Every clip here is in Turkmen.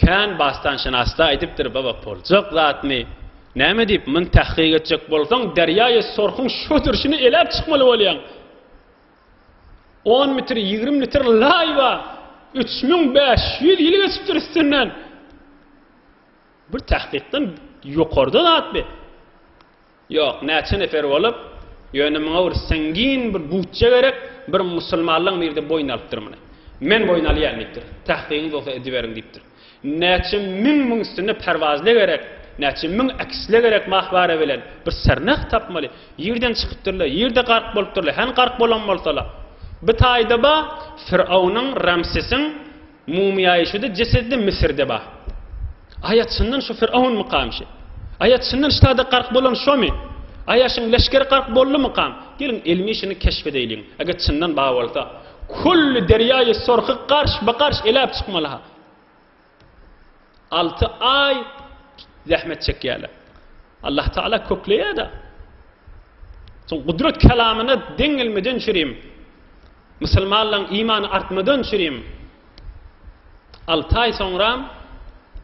Kän basdanşynasda aýdypdyr baba poljak zatny näme diýip myn tahkyk etjek bolsaň derýaýy sorhuň şu durşyny eläp çykmaly bolýaň on mitr ýigrim litr laý ba üç müň bäş ýüz ýyl geçipdir üstünden bir tahkykdan ýokarda zatby. Ýok, näçe nefer bolup, ýöne muňa bir siňgin bir butja gerek, bir musulmanlaň biri de boýun alypdyr muny. Men boýun alýan diýipdir. Tahkygyňyz bolsa ediberiň diýipdir. Näçe müň müň üstünde perwazle gerek, näçe müň ekisle gerek mahbara bilen, bir sernah tapmaly. Ýerden çykypdyrlar, ýerde gark bolupdyrlar, hany gark bolan bolsalar. Bir taýda bar, Firawnyň, Ramsesiň, Mumyýaýşudy jesedi Müsürde bar. Aýa çyndan şu fir'awnmykam şi? Aýa çyndan ştada gark bolan şomy? Aýa şyň leşgeri gark boldumykam? Geliň ilmi şyny keşp edeýliň. Eger çyndan bar bolsa, kulli derýaýy sorky garş-bagarş eläp çykmaly-ha. Alty aý zähmet çekýärler. Allah Taala kökleýär-de. Soň gudrat kelamyna deň gelmeden çürim. Musulmanlaryň imany artmadan çürim. Alty aý soňram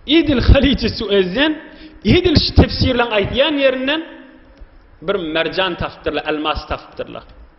Edil Haliji Suezden, edil şu tefsirleň aýdýan ýerinden bir merjan tapypdyrlar, elmas tapypdyrlar.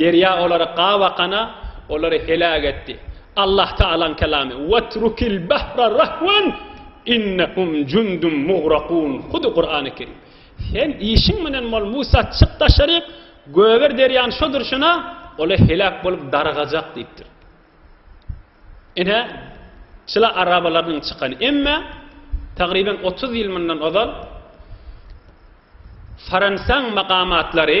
Derýa olary gabakana, olary heläk etdi. Allahtaalaň kelamy, Wetrukil bahra rahwan, innehum jundum mugrakun, hudy Kurany Kerim. Sen işiň menen bol, Musa, çyk daşaryk, göger derýany şo durşuna, ola heläk bolup dargajak diýipdir. Ine, çyla arabalarynyň çykany. Emma, tagryban otuz ýyl mundan ozal, Fransaň makamatlary,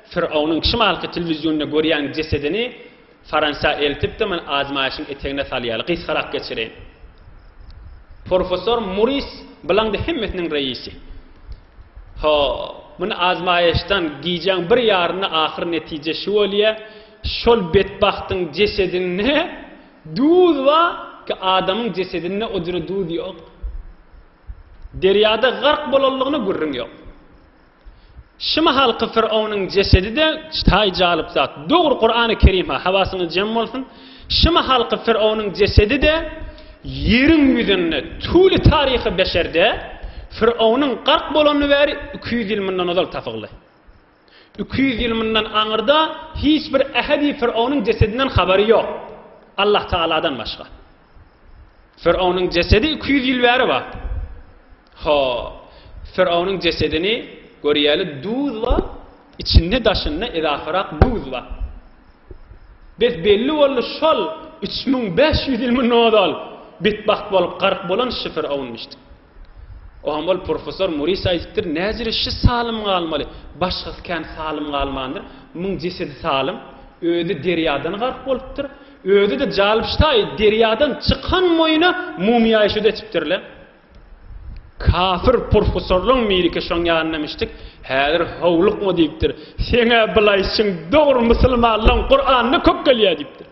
Firawnyň şimalky telewizionda görýän jesedini Fransiýa eltipdim men azmaýşyň etegine salýaly gysgarak geçireýin. Porfesor Muris bilaňda hemmesiniň reisi. Ho, muny azmaýyşdan gijäň bir ýarynda ahyr netije şu bolýa, şol betbagtyň jesedinde duz ba ki adamyň jesedinde o jüre duz ýok. Derýada gark bolanlygyna gürrüň ýok. Şu mahalky Fironuň jesedi-de taý jalyp zat. Dogry Kurany Kerim-ha, hawasyňyz jem bolsun, şu mahalky Fironuň jesedi-de ýeriň ýüzünde, tüwli taryhy beşerde Fironuň gark bolany bäri iki ýüz ýyl mundan ozal tapyldy. Iki ýüz ýyl mundan aňyrda hiç bir ähedi Fironuň jesedinden habary ýok. Allahtagaladan başga. Firawnyň jesedi iki ýüz ýyl bäri bar. Ho, Firawnyň jesedini görýäli duz bar, içinde daşynda edafarak duz bar. Bes belli boldy şol üç müň bäş ýüz ýylmy nodal betbagt bolup garyk bolan şy Firawunmyşdy. Oňa ol professor Moris aýdypdyr, Näzire şi salym galmaly, başgasy kän salym galmandyr. Muň jesedi salym, özi derýadan gark bolupdyr. Özi-de jalbştaýy derýadan çykan moýuna mumiýaýşyda etipdir-le. Kafir professorlaň biriki şoň ýanyna mişdik, Häzir howlukma diýipdir. Seň-ä bulaýşyň dogry musulmanlaň Kuranyna kök gelýär diýipdir.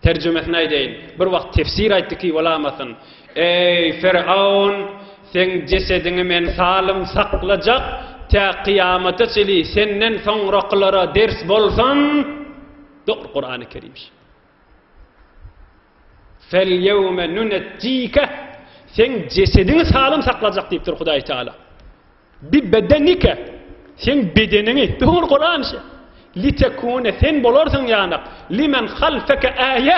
Terjimesini aýdaýyn. Bir wagt tefsir aýtdy ki bolamasyn. Eý, Fyraon, seň jesediňi men salym saklajak, tä kyýamata çeli senden soňrakylara ders bolsun! Dogry, Kurany Kerim şu. Felyewme nunejjike, seň jesediňi salym saklajak diýipdir Hudaý Taala. Bi bedenika, seň bedeniňi, dogry Kuran şe, litekune, sen bolarsyň ýanak, limen halfeke äýe,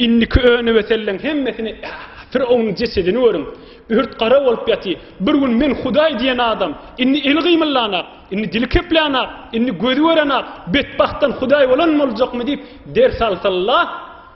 indiki önübetelleň hemmesine äýe, Firowyň jesedini görüň, ört-gara bolup ýaty, bir gün men Hudaý diýen adam, indi eli gymyldanak, indi dili keplänak, indi gözi görenak, betbagtdan Hudaý bolan boljakmy diýip ders alsalla,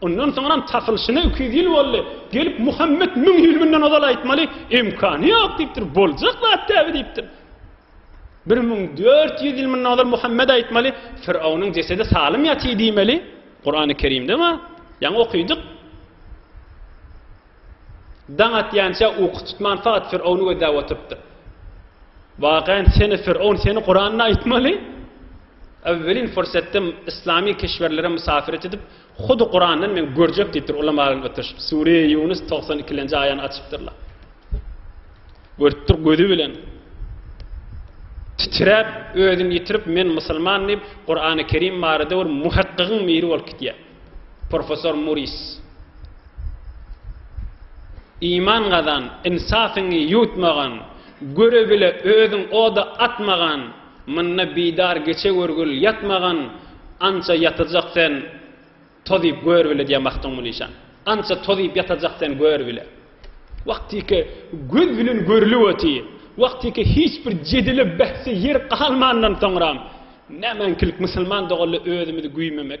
Ondan soňram tapylşyna iki ýüz ýyl boldy. Gelip Muhammet müň ýyl mundan ozal aýtmaly, imkany ýok diýipdir, boljak zat däbi diýipdir. Bir müň dört ýüz ýyl mundan ozal Muhammet aýtmaly, Firawnyň jesedi salym ýatyr diýmeli. Kurany Kerimde bar. Ýaňy okydyk. Daň atýança uky tutman fakat Firawny gözläp oturypdyr. Wagan seni Firawn seni Kuranda aýtmaly. Awwelin fursatda yslamy kişwerlere musafiret edip, hudy Kurandan men görjek diýipdir ulamalaryn oturyşyp, Sureýi Ýunus togsan ikilenji aýany açypdyrlar. Görüpdir gözi bilen. Titräp, özün ýitirip men musulman diýip, Kurany Kerim barada bir muhakkygyň biri bolup gidýär. Professor Muris. Iman gazan, insafyňy ýuwtmagyn, göre bile özüň oda atmagyn. Munda bidar geçe görgül ýatmagan ança ýatajak sen toz iýip gör bile diýýän Magtymguly işan. Ança toz iýip ýatajak sen gör bile. Wagtyky göz bilen görlüp oty, wagtyky hiç bir jedele bähse ýer galmandan soňram nämeňkilik musulman doganlar özümizi güýmemek.